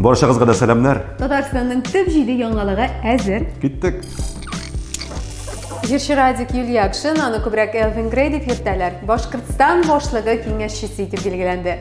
Баршагызга да сәламнәр. Татарстанның төп җиде яңалыгы әзер. Киттек. Җырчы Радик Юльякшин аны күбрәк Элвин Грей дип йөртәләр. Башкортстан башлыгы киңәшчесе итеп билгеләнде.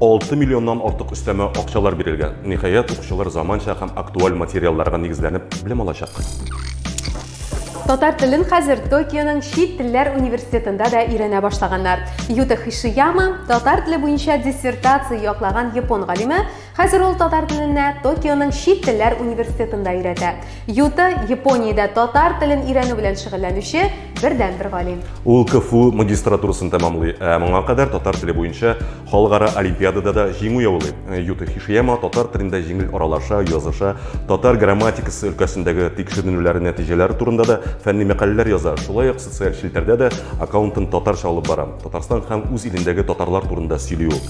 6 миллионнан артык өстәмә акчалар бирелгән. Ниһаять, укучылар заманча һәм актуаль материалларга нигезләнеп белем алачак. Татар телен хәзер Токионың чит телләр университетында да өйрәнә башлаганнар. Юта Хишияма, татар теле буенча диссертация яклаган япон галиме, хәзер ул татар теленә Токионың чит телләр университетында өйрәтә. Юта, Япониядә татар телен өйрәнү белән шөгыльләнүче бердәнбер галим. Ул КФУ магистратурасын тәмамлый, ә моңа кадәр татар теле буенча халыкара олимпиадада да җиңү яулый. Юта Хишияма татар телендә җиңел аралаша, языша, татар грамматикасы өлкәсендәге тикшеренүләре нәтиҗәләре турында да фәнни мәкаләләр яза, шулай ук социаль челтәрдә дә аккаунтын татарча алып бара. Татарстан һәм үз илендәге татарлар турында сөйли ул.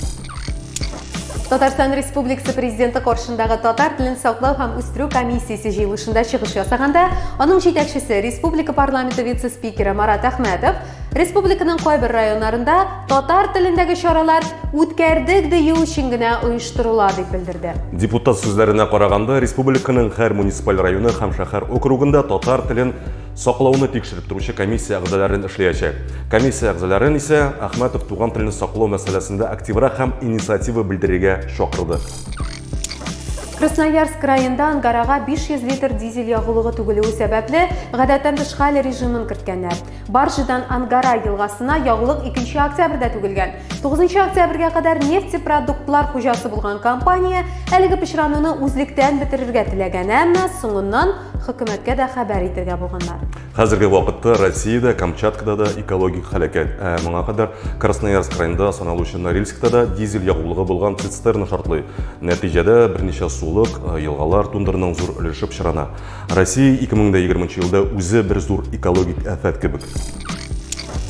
Татарстан Республикасы президенты каршындагы татар телен саклау һәм үстерү комиссиясе җыелышында чыгыш ясаганда, аның җитәкчесе республика парламенты вице-спикеры Марат Әхмәтов республиканың кайбер районнарында татар телендәге чаралар үткәрдек дию өчен генә оештырыла дип белдерде. Депутат сүзләренә караганда, республиканың һәр муниципаль районы һәм шәһәр округында татар телен Саклауны тикшереп торучы комиссия әгъзаларын эшләячәк. Комиссия әгъзаларын исә Ахматов туган телне саклау мәсьәләсендә активрак һәм инициатива белдерергә чакырды. Красноярск районында ангарага 500 литр дизель ягулыгы түгелүе сәбәпле, гадәттән тыш хәл режимын керткәннәр. Баржидан Ангара елгасына ягулык 2 октябрьдә түгелгән. 9 октябрьгә кадәр нефтепродуктлар хуҗасы булган компания әлеге пычрануны үзлектән бетерергә теләгән, әмма соңыннан Хөкүмәткә дә хәбәр итергә булганнар. Хәзерге вакытта Россиядә, Камчаткада да экологик һәлакәт. Ә моңа кадәр Красноярск районында саналучы Норильскта да дизель ягулыгы булган цистерна шартлый. Нәтиҗәдә берничә сулык, э, елгалар, тундырның зур өлеше пычрана. Россия 2020 елда үзе бер зур экологик афәт кебек.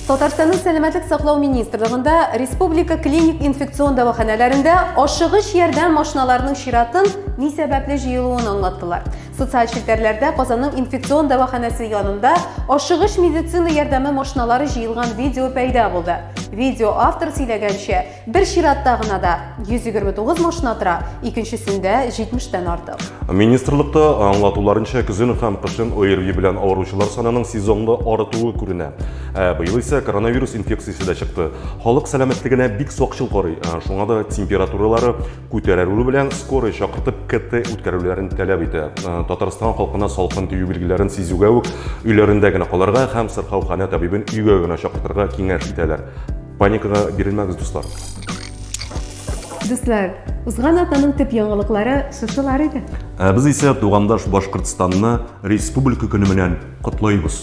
Татарстанның сәламәтлек саклау министрлыгында республика клиник инфекцион дәваханәләрендә ашыгыч ярдәм машиналарының чиратын ни сәбәпле җыелуын аңлаттылар. Социаль челтәрләрдә Казанның инфекцион дәваханәсе янында ашыгыч медицина ярдәме машиналары җыелган видео пәйда булды. Видео автор сөйләгәнчә, Бер чиратта гына да 129 машина тора, икенчесендә 70 тән артык. Министрлыкта аңлатуларынча көзен һәм кышын ОРВИ белән авыручылар санының сезонлы арытуы күренә. Ә быел исә коронавирус инфекциясе дә чыкты. Халык сәламәтлегенә бик сакчыл карый. Ә шуңа да температуралары күтәрелү белән скорый чакыртып КТ үткәрүләрен таләп итә. Ә Татарстан халкына салкын тию билгеләрен сизүгә үк өйләрендә генә калырга һәм сырхауханә табибын өйгә генә чакыртырга киңәш итәләр. Паникага бирелмәгез, дуслар. Дуслар, узган атнаның төп яңалыклары шушылар иде. Ә без исә тугандаш Башкортстанны республика көне белән котлыйбыз.